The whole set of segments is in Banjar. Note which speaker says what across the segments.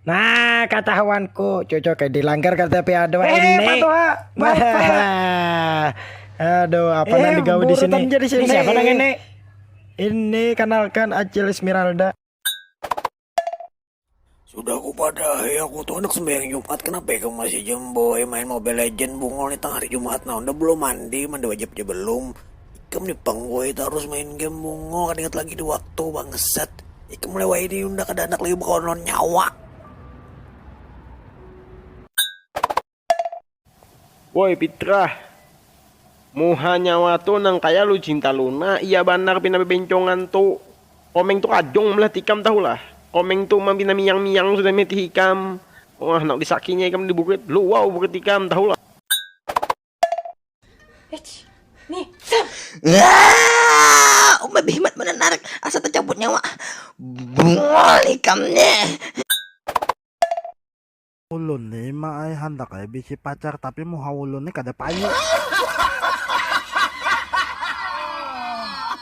Speaker 1: Nah, kata hawanku, cocok kayak di langgar kata pihak doa eh, ini. Aduh, apa eh, yang digawe di sini? Jadi sini. Siapa nang ini? Ini kenalkan Acil Esmeralda.
Speaker 2: Sudah aku pada ya aku tuh anak sembahyang Jumat kenapa ya kamu masih jemboy main Mobile Legend bungol nih tengah hari Jumat nah udah belum mandi mandi wajib aja belum Ikam ni pang woi tarus main game mungo kada ingat lagi di waktu bangsat. Ikam mulai woi ini unda kada anak lagi bekawan lawan nyawa.
Speaker 3: Woi Pitrah, muha nyawa tu nang kaya lu cinta luna iya banar pina bebencongan tu. Komeng tu kadung melihat ikam tahu lah. Komeng tu umang pina miyang-miyang sudah melihat ikam. Wah nang disakinya ikam di bukit, luau bukit ikam tahu lah.
Speaker 4: Eits, nih, Sam. Umai behimat menarik, asa tercabut nyawa. Bungol ikamnya.
Speaker 5: Ulun ni ma ai handak ai bisi pacar tapi muha ulun ni kada payu.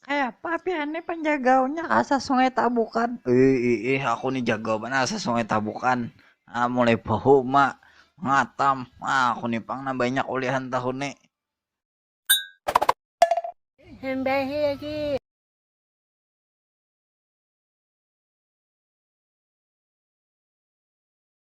Speaker 6: Kayapa pian nih panjagaunya asa sungai tabukan. Iih aku nih
Speaker 7: jagau banar asa sungai tabukan. Ah mulai bahuma, ngatam, ah aku nih pang nang banyak ulihan tahun nih.
Speaker 8: Hambahi
Speaker 7: lagi.